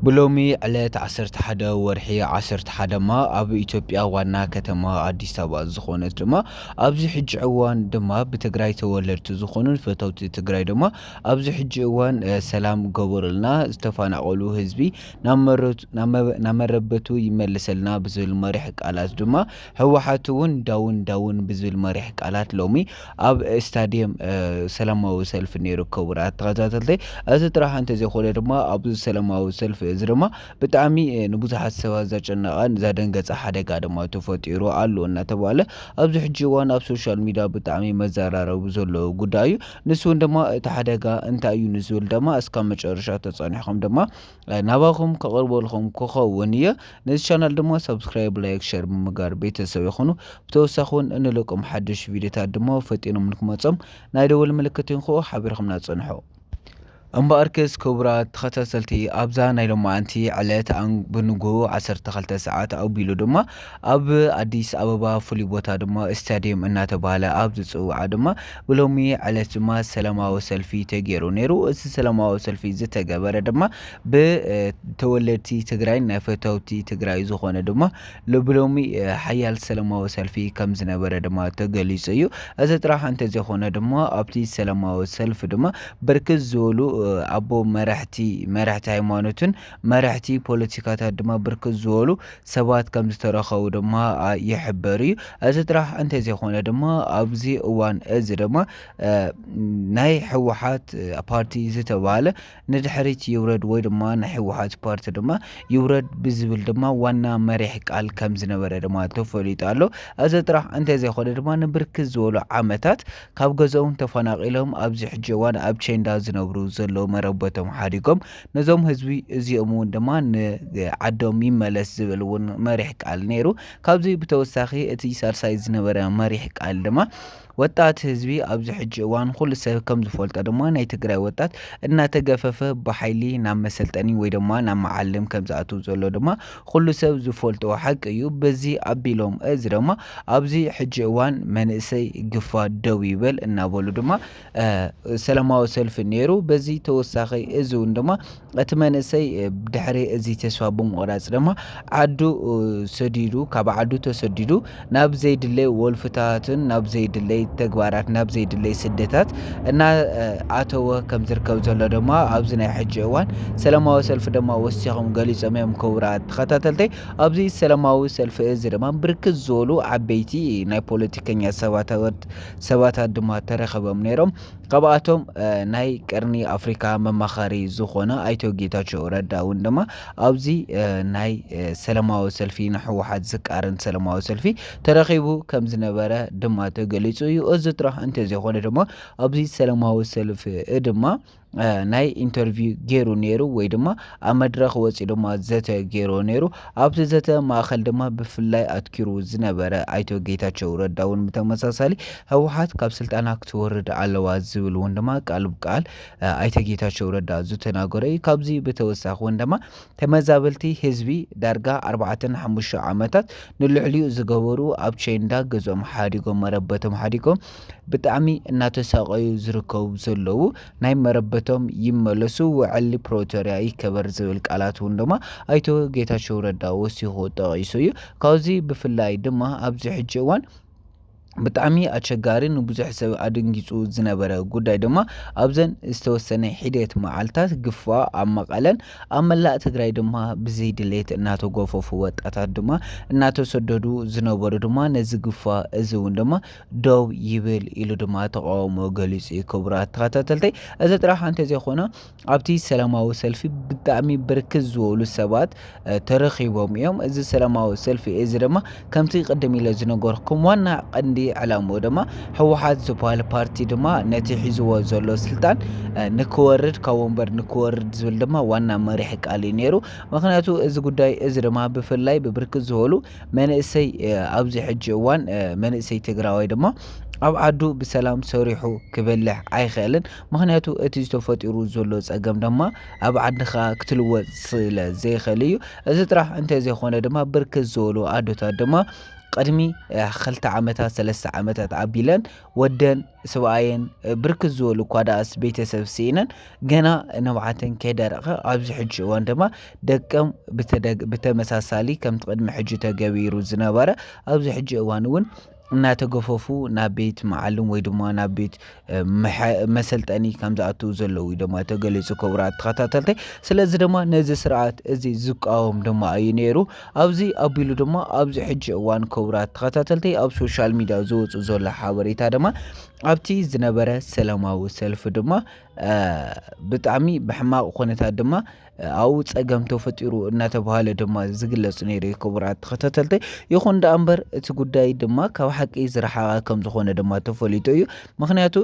ብሎሚ ዕለት ዓሰርተ ሓደ ወርሒ ዓሰርተ ሓደ ድማ ኣብ ኢትዮጵያ ዋና ከተማ ኣዲስ ኣበባ ዝኾነት ድማ ኣብዚ ሕጂ እዋን ድማ ብትግራይ ተወለድቲ ዝኾኑን ፈተውቲ ትግራይ ድማ ኣብዚ ሕጂ እዋን ሰላም ገበሩልና ዝተፋናቀሉ ህዝቢ ናብ መረበቱ ይመልሰልና ብዝብል መሪሕ ቃላት ድማ ህወሓት እውን ዳውን ዳውን ብዝብል መሪሕ ቃላት ሎሚ ኣብ ስታድየም ሰላማዊ ሰልፊ ነይሩ ክቡራት ተኸታተልተይ እዚ ጥራሕ እንተዘይኮነ ድማ ኣብዚ ሰላማዊ ሰልፊ እዚ ድማ ብጣዕሚ ንብዙሓት ሰባት ዘጨነቐን ዘደንገፀ ሓደጋ ድማ ተፈጢሩ ኣሎ እናተባህለ ኣብዚ ሕጂ እዋን ኣብ ሶሻል ሚድያ ብጣዕሚ መዘራረቢ ዘሎ ጉዳይ እዩ ንሱ እውን ድማ እቲ ሓደጋ እንታይ እዩ ንዝብል ድማ እስካብ መጨረሻ ተፀኒሕኹም ድማ ናባኹም ከቕርበልኹም ክኸውን እየ ነዚ ቻናል ድማ ሳብስክራይብ ላይክ ሸር ብምጋር ቤተሰብ ይኹኑ ብተወሳኺ እውን እንልቆም ሓድሽ ቪድዮታት ድማ ፈጢኖም ንክመፆም ናይ ደወል ምልክት ይንክኡ ሓቢርኹምና ፅንሑ እምበኣርክስ ክቡራት ተኸታተልቲ ኣብዛ ናይ ሎማዓንቲ ዕለት ብንግኡ 12 ሰዓት ኣቢሉ ድማ ኣብ ኣዲስ ኣበባ ፍሉይ ቦታ ድማ ስታዲየም እናተባህለ ኣብ ዝፅውዓ ድማ ብሎሚ ዕለት ድማ ሰላማዊ ሰልፊ ተገይሩ ነይሩ። እዚ ሰላማዊ ሰልፊ ዝተገበረ ድማ ብተወለድቲ ትግራይን ናይ ፈተውቲ ትግራይ ዝኾነ ድማ ብሎሚ ሓያል ሰላማዊ ሰልፊ ከም ዝነበረ ድማ ተገሊፁ እዩ። እዚ ጥራሕ እንተዘይኮነ ድማ ኣብቲ ሰላማዊ ሰልፊ ድማ ብርክት ዝበሉ ኣቦ መራሕቲ መራሕቲ ሃይማኖትን መራሕቲ ፖለቲካታት ድማ ብርክት ዝበሉ ሰባት ከምዝተረኸቡ ድማ ይሕበር እዩ። እዚ ጥራሕ እንተዘይኾነ ድማ ኣብዚ እዋን እዚ ድማ ናይ ህወሓት ፓርቲ ዝተባህለ ንድሕሪት ይውረድ ወይ ድማ ናይ ህወሓት ፓርቲ ድማ ይውረድ ብዝብል ድማ ዋና መሪሕ ቃል ከምዝነበረ ድማ ተፈሊጡ ኣሎ። እዚ ጥራሕ እንተዘይኾነ ድማ ንብርክት ዝበሉ ዓመታት ካብ ገዝኦም ተፈናቒሎም ኣብዚ ሕጂ እዋን ኣብ ቸንዳ ዝነብሩ ዘለዉ መረበቶም ሓዲጎም ነዞም ህዝቢ እዚኦም እውን ድማ ንዓዶም ይመለስ ዝብል እውን መሪሕ ቃል ነይሩ። ካብዚ ብተወሳኺ እቲ ሳልሳይ ዝነበረ መሪሕ ቃል ድማ ወጣት ህዝቢ ኣብዚ ሕጂ እዋን ኩሉ ሰብ ከም ዝፈልጦ ድማ ናይ ትግራይ ወጣት እናተገፈፈ ብሓይሊ ናብ መሰልጠኒ ወይ ድማ ናብ መዓልም ከም ዝኣትው ዘሎ ድማ ኩሉ ሰብ ዝፈልጦ ሓቂ እዩ። በዚ ኣቢሎም እዚ ድማ ኣብዚ ሕጂ እዋን መንእሰይ ግፋ ደው ይበል እናበሉ ድማ ሰላማዊ ሰልፊ ነይሩ። በዚ ተወሳኺ እዚ እውን ድማ እቲ መንእሰይ ድሕሪ እዚ ተስፋ ብምቑራፅ ድማ ዓዱ ሰዲዱ ካብ ዓዱ ተሰዲዱ ናብ ዘይድለይ ወልፍታትን ናብ ዘይድለይ ተግባራት ናብ ዘይድለይ ስደታት እናኣተወ ከም ዝርከብ ዘሎ ድማ ኣብዚ ናይ ሕጂ እዋን ሰላማዊ ሰልፊ ድማ ወሲኾም ገሊፆም እዮም። ክቡራት ተኸታተልተይ ኣብዚ ሰላማዊ ሰልፊ እዚ ድማ ብርክት ዝበሉ ዓበይቲ ናይ ፖለቲከኛ ሰባተወት ሰባታት ድማ ተረኸበም ነይሮም። ካብኣቶም ናይ ቀርኒ ኣፍሪካ መማኸሪ ዝኾነ ኣይቶ ጌታቸው ረዳ እውን ድማ ኣብዚ ናይ ሰለማዊ ሰልፊ ንሕወሓት ዝቃረን ሰለማዊ ሰልፊ ተረኺቡ ከም ዝነበረ ድማ ተገሊፁ እዩ። እዚ ጥራሕ እንተዘይኮነ ድማ ኣብዚ ሰለማዊ ሰልፊ ድማ ናይ ኢንተርቪው ገይሩ ነይሩ ወይ ድማ ኣብ መድረኽ ወፂኡ ድማ ዘተ ገይሩ ነይሩ። ኣብቲ ዘተ ማእኸል ድማ ብፍላይ ኣትኪሩ ዝነበረ ኣይቶ ጌታቸው ረዳ እውን ብተመሳሳሊ ህወሓት ካብ ስልጣና ክትወርድ ኣለዋ ዝብል እውን ድማ ቃል ብቃል ኣይተ ጌታቸው ረዳ ዝተናገሮ እዩ። ካብዚ ብተወሳኺ እውን ድማ ተመዛበልቲ ህዝቢ ዳርጋ ኣርባዕተን ሓሙሽተ ዓመታት ንልዕሊኡ ዝገበሩ ኣብ ቸንዳ ገዝኦም ሓዲጎም መረበቶም ሓዲጎም ብጣዕሚ እናተሳቀዩ ዝርከቡ ዘለዉ ናይ መረበቶም ይመለሱ ውዕሊ ፕሮቶርያ ይከበር ዝብል ቃላት እውን ድማ ኣይተ ጌታቸው ረዳ ወሲኹ ጠቂሱ እዩ ካብዚ ብፍላይ ድማ ኣብዚ ሕጂ እዋን ብጣዕሚ ኣቸጋሪ ንብዙሕ ሰብ ኣደንጊፁ ዝነበረ ጉዳይ ድማ ኣብዘን ዝተወሰነ ሒደት መዓልታት ግፋ ኣብ መቐለን ኣብ መላእ ትግራይ ድማ ብዘይድሌት እናተጎፈፉ ወጣታት ድማ እናተሰደዱ ዝነበሩ ድማ ነዚ ግፋ እዚ እውን ድማ ደው ይብል ኢሉ ድማ ተቃውሞ ገሊፁ እዩ። ክቡራት ተኸታተልተይ እዚ ጥራሕ እንተዘይኾነ ኣብቲ ሰላማዊ ሰልፊ ብጣዕሚ ብርክት ዝበሉ ሰባት ተረኺቦም እዮም። እዚ ሰላማዊ ሰልፊ እዚ ድማ ከምቲ ቅድም ኢለ ዝነገርኩም ዋና ቀንዲ ዕላምኡ ድማ ህወሓት ዝበሃል ፓርቲ ድማ ነቲ ሒዝዎ ዘሎ ስልጣን ንክወርድ ካብ ወንበር ንክወርድ ዝብል ድማ ዋና መሪሒ ቃል እዩ ነይሩ። ምክንያቱ እዚ ጉዳይ እዚ ድማ ብፍላይ ብብርክት ዝበሉ መንእሰይ ኣብዚ ሕጂ እዋን መንእሰይ ትግራዋይ ድማ ኣብ ዓዱ ብሰላም ሰሪሑ ክበልሕ ኣይኽእልን። ምክንያቱ እቲ ተፈጢሩ ዘሎ ጸገም ድማ ኣብ ዓድኻ ክትልወጥ ስለ ዘይክእል እዩ። እዚ ጥራሕ እንተዘይኮነ ድማ ብርክት ዝበሉ ኣዶታት ድማ ቅድሚ ክልተ ዓመታት ሰለስተ ዓመታት ኣቢለን ወደን ስብኣየን ብርክት ዝበሉ እኳ ደኣስ ቤተሰብ ስኢነን ገና ንብዓተን ከይደረቐ ኣብዚ ሕጂ እዋን ድማ ደቀም ብተመሳሳሊ ከምቲ ቅድሚ ሕጂ ተገቢሩ ዝነበረ ኣብዚ ሕጂ እዋን እውን እናተገፈፉ ናብ ቤት መዓልም ወይ ድማ ናብ ቤት መሰልጠኒ ከም ዝኣትው ዘለዉ ድማ ተገሊጹ ክቡራት ተኸታተልተይ ስለዚ ድማ ነዚ ስርዓት እዚ ዝቃወም ድማ እዩ ነይሩ ኣብዚ ኣቢሉ ድማ ኣብዚ ሕጂ እዋን ክቡራት ተኸታተልተይ ኣብ ሶሻል ሚድያ ዝወፁ ዘሎ ሓበሬታ ድማ ኣብቲ ዝነበረ ሰላማዊ ሰልፊ ድማ ብጣዕሚ ብሕማቕ ኩነታት ድማ ኣብኡ ፀገም ተፈጢሩ እናተባሃለ ድማ ዝግለፅ ነይሩ እዩ ክቡራት ተኸታተልተይ ይኹን ደኣ እምበር እቲ ጉዳይ ድማ ካብ ሓቂ ዝረሓቐ ከም ዝኾነ ድማ ተፈሊጡ እዩ ምክንያቱ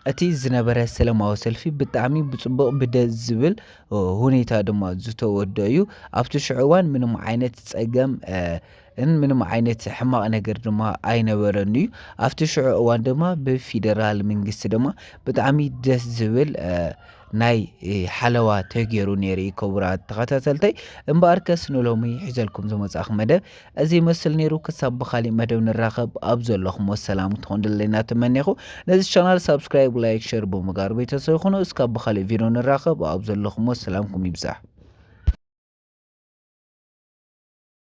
እቲ ዝነበረ ሰላማዊ ሰልፊ ብጣዕሚ ብፅቡቕ ብደስ ዝብል ሁኔታ ድማ ዝተወደ እዩ ኣብቲ ሽዑ እዋን ምንም ዓይነት ፀገም ን ምንም ዓይነት ሕማቕ ነገር ድማ ኣይነበረን እዩ ኣብቲ ሽዑ እዋን ድማ ብፊደራል ምንግስቲ ድማ ብጣዕሚ ደስ ዝብል ናይ ሓለዋ ተገይሩ ነይሩ እዩ ክቡራት ተኸታተልተይ እምበኣር ከስ ንሎሚ ሒዘልኩም ዝመጻእኹ መደብ እዚ ይመስል ነይሩ ክሳብ ብካሊእ መደብ ንራኸብ ኣብ ዘለኹም ወሰላም ትኾን ደለና ትመኔኹ ነዚ ቻናል ሳብስክራይብ ላይክ ሸር ብምጋር ቤተሰብ ይኹኑ እስካብ ብካሊእ ቪድዮ ንራኸብ ኣብ ዘለኹም ወሰላምኩም ይብዛሕ